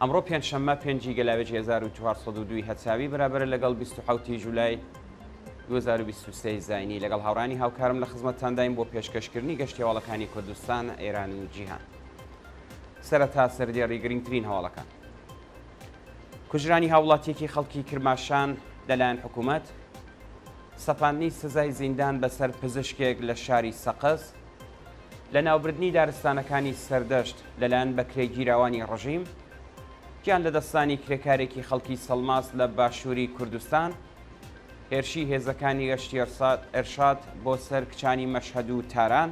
ئەمڕۆ پێنجشەممە پێنج ی گەلاوێژی هەزار و چوار سەد و دوو ی هەرچاوی بەرابەرە لەگەڵ بیست و حەوت ی جولای دوو هەزار و بیست و سێ ی زاینی، لەگەڵ هاوڕێیانی هاوکارم لە خزمەتتانداین بۆ پێشکەشکردنی گەشتی هەواڵەکانی کوردستان، ئێران و جیهان. سەرەتا سەردێڕی گرنگترین هەواڵەکان. کوژرانی هاوڵاتیەکی خەڵکی کرماشان لەلایەن حکومەت، سەپاندنی سزای زیندان بەسەر پزشکێک لە شاری سەقز، لەناوبردنی دارستانەکانی سەردەشت لەلایەن بەکرێگیراوانی ڕژیم، گیان لەدەستدانی کرێکارێکی خەڵکی سەڵماس لە باشووری کوردستان، هێرشی هێزەکانی گەشتی ئێرشاد بۆ سەر کچانی مەشهەد و تاران،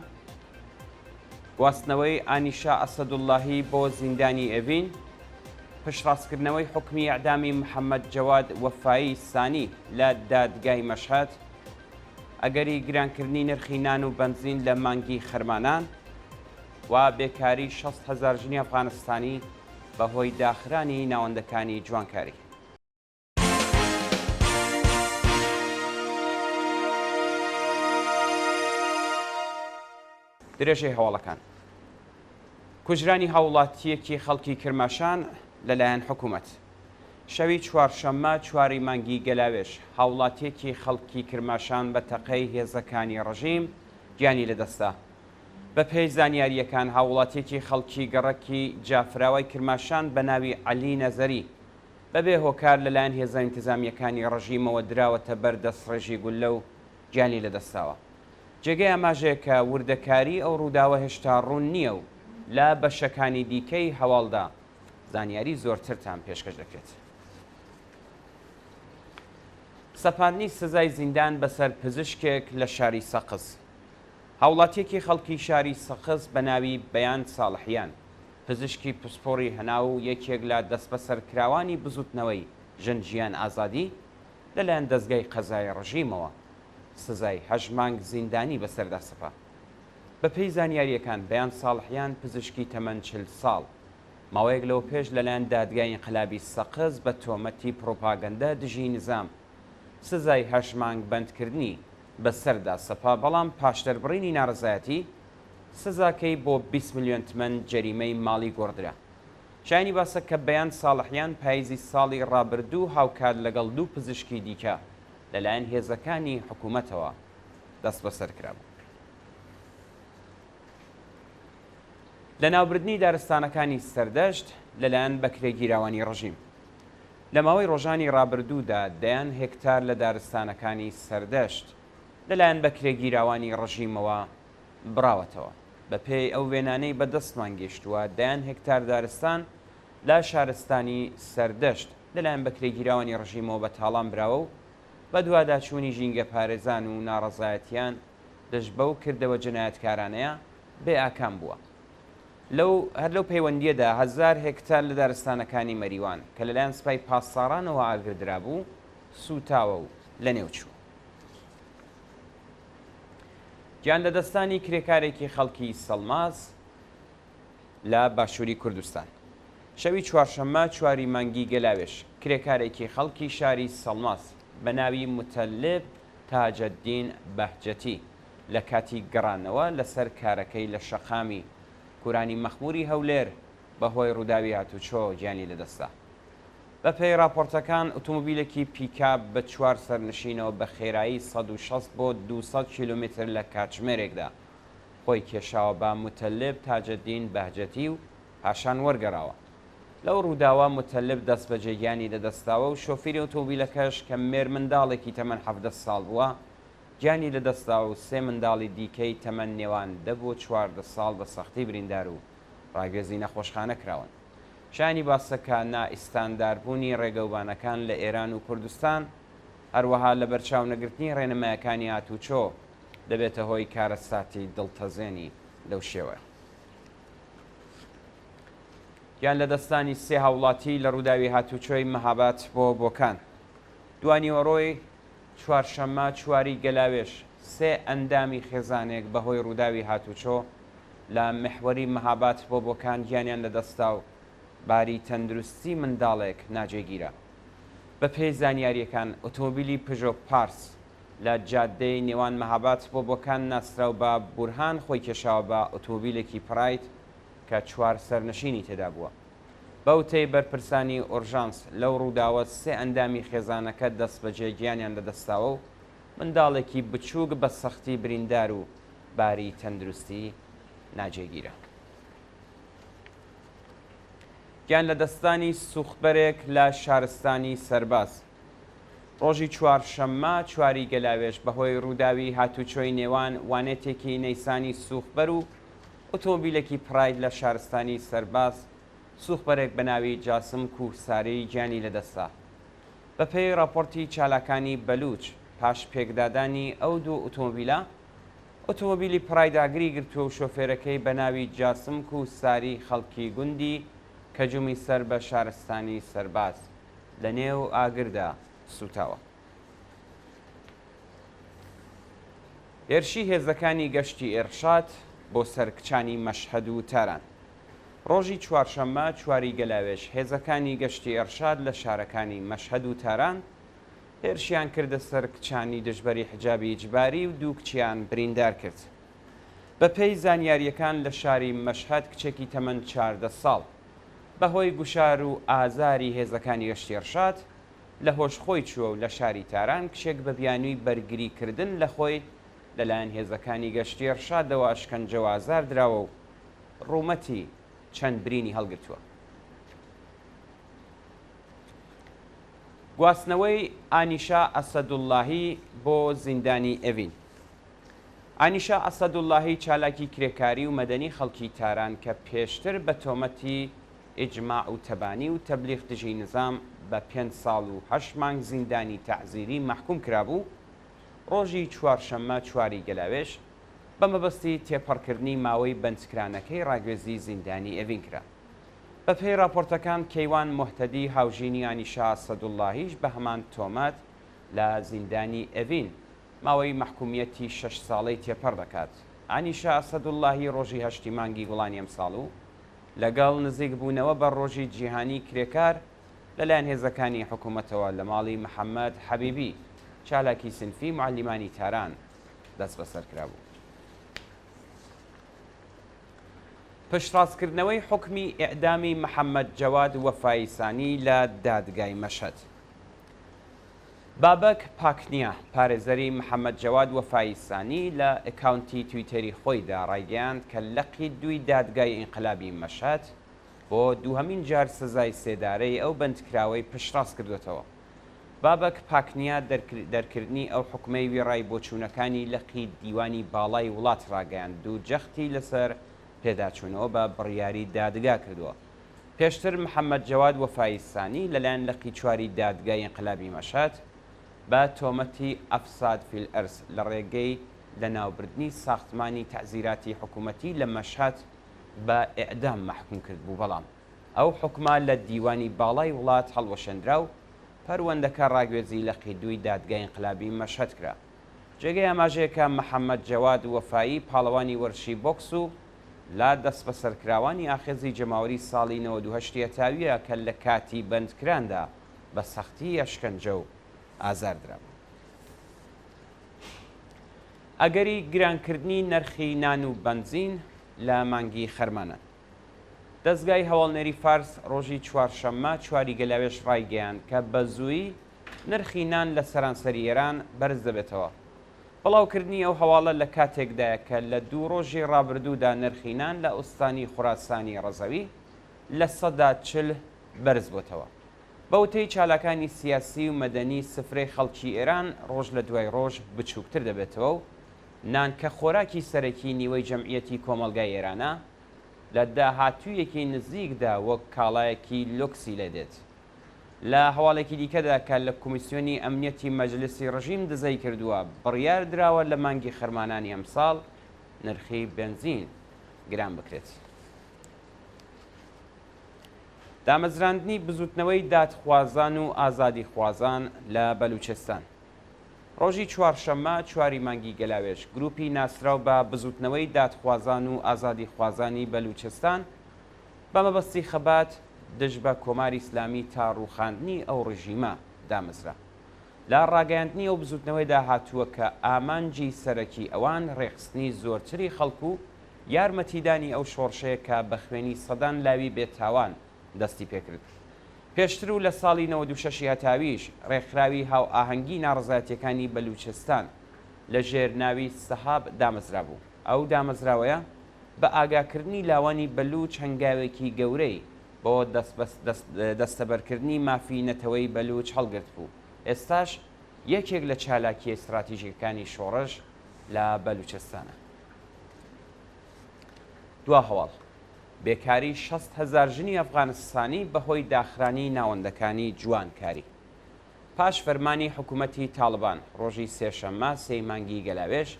گواستنەوەی ئانیشا ئەسەدوڵڵاهی بۆ زیندانی ئێڤین، پشتڕاستکردنەوەی حوکمی ئێعدامی محەممەد جەواد وەفایی سانی لە دادگای مەشهەد، ئەگەری گرانکردنی نرخی نان و بەنزین لە مانگی خەرمانان و بێکاری شەست هەزار ژنی ئەفغانستانی بەهۆی داخرانی ناوەندەکانی جوانکاری. درێژەی هەواڵەکان کوژرانی هاووڵاتییەکی خەڵکی کرماشان لەلایەن حکوومەت شەوی چوارشەممە چوار ی مانگی گەلاوێژ هاووڵاتییەکی خەڵکی کرماشان بە تەقەی هێزەکانی ڕژیم گیانی لەدەستدا. بەپێی زانیارییەکان هاووڵاتییەکی خەڵکی گەڕەکی جافراوای کرماشان بە ناوی عەلی نەزەری بەبێ هۆکار لەلایەن هێزە ئینتزامییەکانی ڕژیمەوە دراوەتە بەر دەستڕێژی گوللە و گیانی لەدەستداوە. جێگەی ئاماژەیە کە وردەکاریی ئەو ڕووداوە هێشتا ڕوون نییە و لە بەشەکانی دیکەی هەواڵدا زانیاریی زۆرترتان پێشکەش دەکرێت. سەپاندنی سزای زیندان بەسەر پزیشکێک لە شاری سەقز. هاوڵاتیەکی خەڵکی شاری سەقز بە ناوی بەیان ساڵحیان، پزیشکی پسپۆڕی هەناو و یەکێک لە دەستبەسەرکراوانی بزوتنەوەی ژن ژیان ئازادی، لەلایەن دەزگای قەزایی ڕژیمەوە سزای هەشت مانگ زیندانی بەسەردا سەپا. بەپێی زانیارییەکان، بەیان ساڵحیان پزیشکی تەمەن چل ساڵ، ماوەیەک لەوەپێش لەلایەن دادگای ئینقلابی سەقز بە تۆمەتی پڕوپاگەندە دژی نیزام، سزای هەشت مانگ بەندکردنی بەسەردا سەپا، بەڵام پاش دەربڕینی نارەزایەتی، سزاکەی بۆ بیست ملیۆن تمەن جەریمەی ماڵی گۆڕدرا. شایانی باسە کە بەیان ساڵحیان پاییزی ساڵی ڕابردوو هاوکات لەگەڵ دوو پزیشکی دیکە لەلایەن هێزەکانی حکوومەتەوە دەستبەسەر کرابوو. لەناوبردنی دارستانەکانی سەردەشت لەلایەن بەکرێگیراوانی ڕژیم لە ماوەی ڕۆژانی ڕابردوودا دەیان هێکتار لە دارستانەکانی سەردەشت لەلایەن بەکرێگیراوانی ڕژیمەوە بڕاوەتەوە. بەپێی ئەو وێنانەی بەدەستمان گەیشتووە، دەیان هێکتار دارستان لە شارستانی سەردەشت لەلایەن بەکرێگیراوانی ڕژیمەوە بە تاڵان براوە و بەدواداچوونی ژینگەپارێزان و ناڕەزایەتییان دژ بەو کردەوە جنایەتکارانەیە بێ ئاکام بووە. لەو هەر لەو پەیوەندییەدا هەزار هێکتار لە دارستانەکانی مەریوان کە لەلایەن سپای پاسدارانەوە ئاگردرابوو سووتاوە و لەنێو چوو. گیان لەدەستدانی کرێکارێکی خەڵکی سەڵماس، لە باشووری کوردستان. شەوی چوارشەممە چواری مانگی گەلاوێژ، کرێکارێکی خەڵکی شاری سەڵماس بە ناوی موتەللێب تاجەددین بەهجەتی لە کاتی گەڕانەوە لە سەر کارەکەی لە شەقامی کورانی مەخمووری هەولێر بە هۆی ڕووداوی هاتوچۆ گیانی لە دەستدا. بە پێی ڕاپۆرتەکان ئوتومبیلێکی پیکاب بە چوار سەرنشینەوە بە خێرایی سەد و شەست بۆ دوو سەد کیلۆمیتر لە کاتژمێرێکدا خۆی کێشاوە بە موتەلب تاجەدین بەهجەتی و پاشان وەرگەڕاوە. لەو ڕووداوە موتەلب دەستبەجێ گیانی لەدەستداوە و شۆفیری ئۆتۆمبیلەکەش کە مێرمنداڵێکی تەمەن حەڤدە ساڵ بووە، گیانی لەدەستدا و سێ منداڵی دیکەی تەمەن نێوان دە بۆ چواردە ساڵ بە سەختی بریندار و ڕاگوێزی نەخۆشخانە کراون. شایانی باسە کە نائیستانداربوونی ڕێگەوبانەکان لە ئێران و کوردستان، هەروەها لەبەرچاونەگرتنی ڕێنمایەکانی هاتووچۆ، دەبێتە هۆی کارەساتی دڵتەزێنی لەو شێوە. گیان لەدەستانی سێ هاوڵاتی لە ڕووداوی هاتوچۆی مەهابات بۆ بۆکان. دوانیوەڕۆی چوارشەممە چواری گەلاوێش سێ ئەندامی خێزانێک بەهۆی ڕووداوی هاتوچۆ لە محوەری مەهابات بۆ بۆکان گیانیان لەدەستا و باری تەندروستی منداڵێک ناجێگیرە. بەپێی زانیاریەکان ئۆتۆمبیلی پژۆ پارس لە جادەی نێوان مەهاباد سپۆ بۆ کان ناسراو بە بورهان خۆی کێشاوە بە ئۆتۆمۆبیلێکی پرایت کە چوار سەرنشینی تێدا بووە. بە وتەی بەرپرسانی ئۆرژانس، لەو رووداوە سێ ئەندامی خێزانەکە دەستبەجێ گیانیان لەدەستداوە و منداڵێکی بچووک بە سەختی بریندار و باری تەندروستی ناجێگیرە. گیانلەدەستدانی سووختبەرێک لە شارستانی سەرباز. ڕۆژی چوارشەممە چواری گەلاوێژ بەهۆی ڕووداوی هاتووچۆی نێوان وانێتێکی نەیسانی سووخبەر و ئۆتۆمبیلێکی پرایت لە شارستانی سەرباز سووخبەرێک بە ناوی جاسم کوهساری گیانی لەدەستدا. بەپێی ڕاپۆرتی چالاکانی بەلووچ، پاش پێکدادانی ئەو دوو ئۆتۆمبیلە، ئۆتۆمبیلی پرایت ئاگری گرتووە و شۆفێرەکەی بە ناوی جاسم کوهساری خەڵکی گوندی کەجومی سەر بە شارستانی سەرباز. لە نێو ئاگردا سووتاوە. هێرشی هێزەکانی گەشتی ئێرشاد بۆ سەر کچانی مەشهەد و تاران. ڕۆژی چوارشەممە چواری گەلاوێژ هێزەکانی گەشتی ئێرشاد لە شارەکانی مەشهەد و تاران هێرشیان کردە سەر کچانی دژبەری حجابی ئیجباری و دوو کچیان بریندار کرد. بەپێی زانیارییەکان لە شاری مەشهەد کچێکی تەمەن چاردە ساڵ بەهۆی گوشار و ئازاری هێزەکانی گەشتی ڕشاد، لە هۆش خۆی چووە و لە شاری تاران کچێک بە بیانووی بەرگری کردن لە خۆی لەلایەن هێزەکانی گەشتی ڕشادەوە ئەشکەنجە و ئازار دراوە و ڕوومەتی چەند برینی هەڵگرتووە. گواستنەوەی ئانیشا ئەسەدوڵڵاهی بۆ زیندانی ئێڤین. ئانیشا ئەسەدوڵڵاهی چالاکی کرێکاری و مەدەنی خەڵکی تاران کە پێشتر بە تۆمەتی ئیجماع و تەبانی و تەبلیغ دژی نیزام بە پێنج ساڵ و هەشت مانگ زیندانی تەعزیری مەحکووم کرابوو، ڕۆژی چوارشەممە چوار ی گەلاوێژ بە مەبەستی تێپەڕکردنی ماوەی بەندکرانەکەی ڕاگوێزی زیندانی ئێڤین کرا. بە پێی ڕاپۆرتەکان کەیوان موهتەدی هاوژینی ئانیشا ئەسەدوڵڵاهیش بە هەمان تۆمەت لە زیندانی ئێڤین ماوەی مەحکومیەتی شەش ساڵەی تێپەڕ دەکات. ئانیشا ئەسەدوڵڵاهی ڕۆژی هەشتی مانگی گوڵانی ئەمساڵ و لەگەڵ نزیک بوونەوە بە ڕۆژی جیهانی کرێکار لەلایەن هێزەکانی حکومەتەوە لە ماڵی محەمەد حەبیبی چالاکی سینفی موعەلیمانی تاران دەستبەسەر کرابوو. پشتڕاستکردنەوەی حوکمی ئێعدامی محەمەد جەواد وەفایی سانی لە دادگای مەشهەد. بابەک پاکنیا، پارێزەری محەمەد جەواد وەفایی سانی لە ئەکاونتی تویتەری خۆیدا ڕایگەیاند کە لقی دووی دادگای ئینقلابی مەشهەد بۆ دووهەمین جار سزای سێدارەی ئەو بەندکراوەی پشتڕاست کردووەتەوە. بابەک پاکنیا دەرکردنی ئەو حوکمەی وێڕای بۆچوونەکانی لقی دیوانی باڵای وڵات ڕاگەیاند و جەختی لەسەر پێداچوونەوە بە بڕیاری دادگا کردووە. پێشتر محەمەد جەواد وەفایی سانی لەلایەن لقی چواری دادگای ئینقلابی مەشهەد بە تۆمەتی افساد فی الارض لە ڕێگەی لەناوبردنی ساختمانی تەعزیراتی حکوومەتی لە مەشهەد بە ئێعدام مەحکووم کردبوو بەڵام ئەو حوکمە لە دیوانی باڵای وڵات هەڵوەشێنرا و پەروەندەکە ڕاگوێزی لقی دووی دادگای ئینقلابی مەشهەد کرا. جێگەی ئاماژەیە کە محەمەد جەواد وەفایی پاڵەوانی وەرزشی بۆکس و لە دەسبەسەرکراوانی ئاخێزی جەماوەری ساڵی نەوەد و هەشت یەتاویە کە لە کاتی بەندکراندا بە سەختی ئەشکەنجە و ئازار درابوون. ئەگەری گرانکردنی نرخی نان و بەنزین لە مانگی خەرمانان. دەزگای هەواڵنێری فارس ڕۆژی چوارشەممە چواری گەلاوێژ ڕایگەیاند کە بە زوویی نرخی نان لە سەرانسەری ئێران بەرز دەبێتەوە بڵاوکردنی ئەو هەواڵە لە کاتێکدایە کە لە دوو ڕۆژی ڕابردوودا نرخی نان لە ئوستانی خوراسانی ڕەزەوی لە سەدا چل بەرزبووەتەوە. بە وتەی چالاکانی سیاسی و مەدەنی سفرەی خەڵکی ئێران ڕۆژ لە دوای ڕۆژ بچووکتر دەبێتەوە و نان کە خۆراکی سەرەکی نیوەی جەمعیەتی کۆمەڵگای ئێرانە لە داهاتوویەکی نزیکدا وەک کاڵایەکی لۆکسی لێدێت. لە هەواڵێکی دیکەدا کە لە کۆمیسیۆنی ئەمنیەتی مەجلیسی ڕژیم دزەی کردووە، بڕیار دراوە لە مانگی خەرمانانی ئەمساڵ نرخی بێنزین گران بکرێت. دامەزراندنی بزوتنەوەی دادخوازان و ئازادیخوازان لە بەلوچستان. ڕۆژی چوارشەممە چواری مانگی گەلاوێژ گروپی ناسراو بە بزوتنەوەی دادخوازان و ئازادیخوازانی بەلوچستان بە مەبەستی خەبات دژ بە کۆماری ئیسلامی تا ڕووخاندنی ئەو ڕژیمە دامەزرا. لە ڕاگەیاندنی ئەو بزووتنەوەیدا هاتووە کە ئامانجی سەرەکی ئەوان ڕێکخستنی زۆرتری خەڵک و یارمەتیدانی ئەو شۆڕشەیە کە بە خوێنی سەدان لاوی بێ تاوان دەستی پێکرد پێشتر و لە ساڵی نەوەد و شەش ی هەتاویش ڕێکخراوی هاوئاهەنگی ناڕەزایەتیەکانی بەلووچستان لە ژێر ناوی سەهاب دامەزرابوو. ئەو دامەزراوەیە بە ئاگاکردنی لاوانی بەلووچ هەنگاوێکی گەورەی بۆ دەستەبەرکردنی مافی نەتەوەی بەلووچ هەڵگرتبوو، ئێستاش یەکێک لە چالاکییە ستراتیژیکەکانی شۆڕش لە بەلووچستانە. دوا هەواڵ، بێکاری شەست هەزار ژنی ئەفغانستانی بەهۆی داخرانی ناوەندەکانی جوانکاری. پاش فەرمانی حکومەتی تاڵبان، ڕۆژی سێشەممە سێی مانگی گەلاوێژ،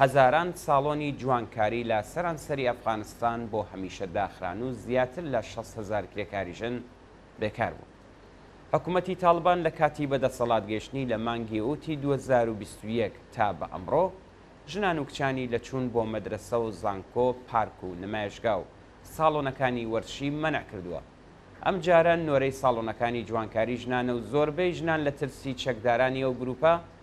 هەزاران ساڵۆنی جوانکاری لە سەرانسەری ئەفغانستان بۆ هەمیشە داخران و زیاتر لە شەست هەزار کرێکاری ژن بێکار بوون. حکومەتی تاڵبان لە کاتی بەدەسەڵات گەیشتنی لە مانگی ئوتی دوو هەزار و بیست و یەک تا بە ئەمڕۆ، ژنان و کچانی لە چوون بۆ مەدرەسە و زانکۆ، پارک و نمایشگا و ساڵۆنەکانی وەرزشی مەنع کردووە. ئەم جارە نۆرەی ساڵۆنەکانی جوانکاری ژنانە و زۆربەی ژنان لە ترسی چەکدارانی ئەو گروپە،